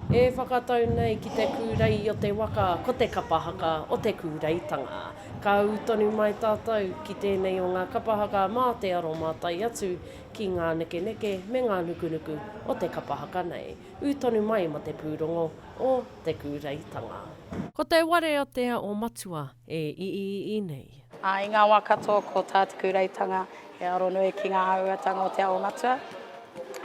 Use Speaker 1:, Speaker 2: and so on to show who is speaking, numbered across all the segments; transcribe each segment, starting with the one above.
Speaker 1: E whakatau nei ki te kūrei o te waka ko te kapa haka o te kūreitanga. Ka ū tonu mai tātou ki tēnei o ngā kapa haka mā te aromātai atu ki ngā nekeneke me ngā nukunuku o te kapa haka nei. Ū tonu mai ma te pūrongo o Te Kūreitanga. Ko te ware a Te Ao Matua e iiii nei. Ā, i ngā wā katoa
Speaker 2: ko tā Te Kūreitanga he aro nui ki ngā āhuatanga o Te Ao Matua.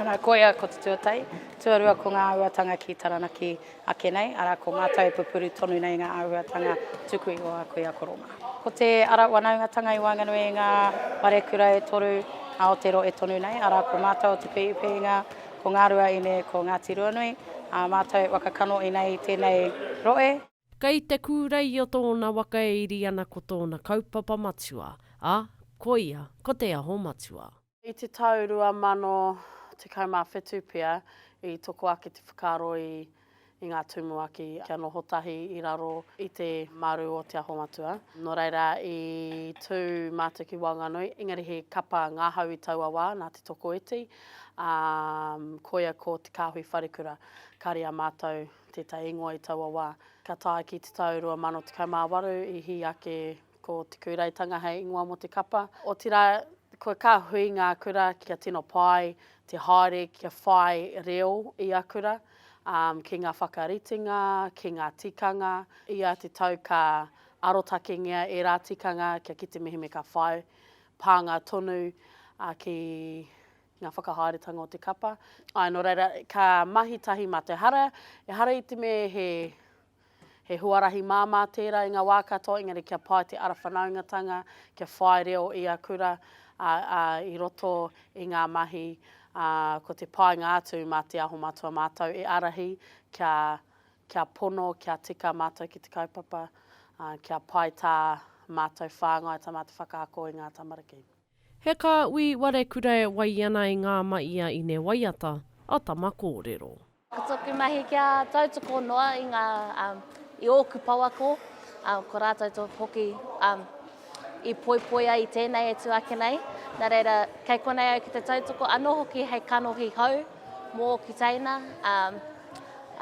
Speaker 2: Arā, koia ko te tuatai, tuarua ko ngā āhuatanga ki Taranaki ake nei, arā, ko mātou e pupuru tonu nei ngā āhuatanga tuku iho a Kuia Koro mā. Ko te ara wanaungatanga i waenganui i ngā wharekura e toru Aoteroe tonu nei, arā, ko mātou o Te Pihipihinga, Ko ngā rua ine ko Ngāti Ruanui, ā mātou waka kanohi nei tēnei rohe. Kei Te
Speaker 1: Kūrei o tōna waka e iri ana ko tōna kaupapa matua, ā, koia ko Te Aho Matua. I te tau 2017
Speaker 3: pea i toko ake te whakaaro i. i ngā tumuaki kia noho tahi i raro i te maru o Te Aho Matua. Nō reira, i tū mātou ki waenganui, engari he kapa ngahau i taua wā, nā Te Tokoiti, ā, koia ko Te Kāhui Wharekura. Kāre a mātou tētahi ingoa i taua wā. Ka tae ki te tau 2018, i hī ake Ko Te Kūraetanga hei ingoa mō te kapa, otirā kua ka hui ngā kura kia tino pai te haere kia whai reo i a kura, ki ngā whakaritenga, ki ngā tikanga, i a te tau ka arotakengia ērā tikanga kia kite mihi me ka whai pānga tonu ki ngā whakahaeretanga o te kapa. Āe, nō reira, ka mahi tahi mā te hara, ehara i te mea he. He huarahi māmā tērā i ngā wā katoa, engari kia pai te ara whanaungatanga, kia whai reo i a kura, ā, ā, i roto i ngā mahi, ā, ko te painga atu mā Te Aho Matua mātou e ārahi kia, kia pono, kia tika mātou ki te kaupapa, ā, kia pai tā mātou whāngai, tā mātou whakaako i ngā tamariki. He ka
Speaker 1: ui ware kura e wai ana i ngā ma i a Ine Waiata, a Tama Kōrero. Ko tōku mahi
Speaker 4: kia tautoko noa i ngā, i ōku pouako, ko rātou tō hoki i poipoi ai i tēnei e tū ake nei. Nā reira, kei konei au ki te tautoko anō hoki hei kanohi hou mō ōku teina,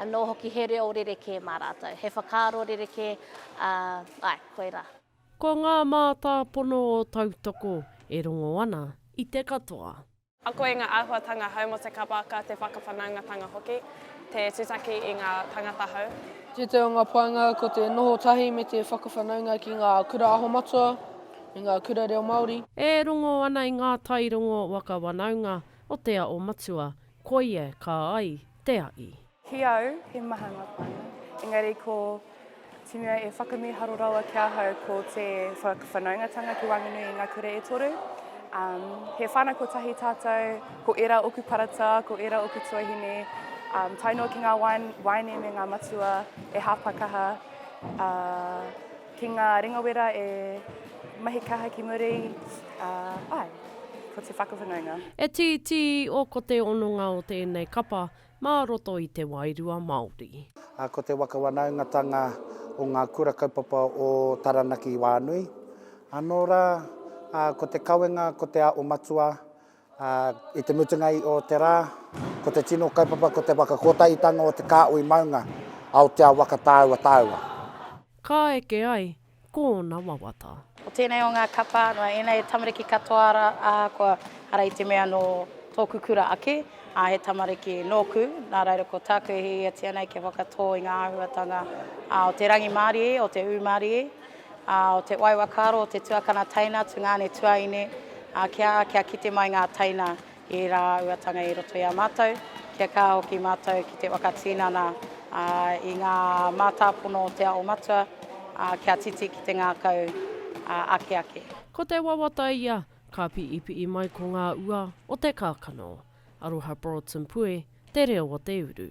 Speaker 4: anō hoki he reo rerekē mā rātou, he whakaaro rerekē, āe, koirā. Ko ngā
Speaker 1: mātāpono o tautoko e rongo ana i te katoa. Ako i ngā
Speaker 5: āhuatanga hou mō te kapaaka, te whakawhanaungatanga hoki, te tutaki i ngā tāngata hou. Tētahi o ngā
Speaker 6: painga ko te noho tahi me te whakawhanaunga ki ngā Kura Aho Matua me ngā Kura Reo Māori. E rongo ana
Speaker 1: i ngā tairongo waka wanaunga o te ao matua, koia kā ai te aʻi. Ki au, he
Speaker 7: maha ngā pānga. Engari ko te mea e whakamīharo rawa ki ahau ko te whakawhanaungatanga ki Wanganui i ngā kura e toru. Um, he whānau kotahi tātou, ko era oku parata, ko era oku tuahine, um, tae noa ki ngā wain, waine me ngā matua e hāpakaha, uh, ki ngā ringawera e mahi kaha ki muri, uh, ai, ko te whakawhanaunga. E tītī
Speaker 1: o ko te ononga o tēnei kapa, mā roto i te wairua Māori. Ko te waka
Speaker 8: wanaungatanga o ngā Kura Kaupapa o Taranaki Wānui anō rā, ko te kawenga, ko te aʻo matua i te mutunga i ō te rā, ko te tino kaupapa, ko te whakakotahitanga o te kāhui maunga Aotea waka tāua tāua. Ka
Speaker 1: eke ai, ko ōna wawata. Ko tēnei o ngā
Speaker 2: kapa, nō ēnei he tamariki katoa ara, ā, kua, ara i te mea nō tōku kura ake, ā, he tamariki nōku, nā reira ko tāku e hiahiatia nei kia whakatō i ngā āhuatanga, ā, o te rangimārie, o te ūmārie, ā, o te waiwakaaro, o te tuakana teina, tungāne, tuaine, ā, kia, kia kite mai ngā teina Ērā āhuatanga i roto i a mātou, kia kaha hoki mātou ki te whakatinana i ngā mātāpono o Te Aho Matua kia titi ki te ngākau ake ake. Ko te wawata
Speaker 1: ia, ka piipii mai ko ngā ua o te kākano. Aroha Broadson Pue, Te Reo o te Uru.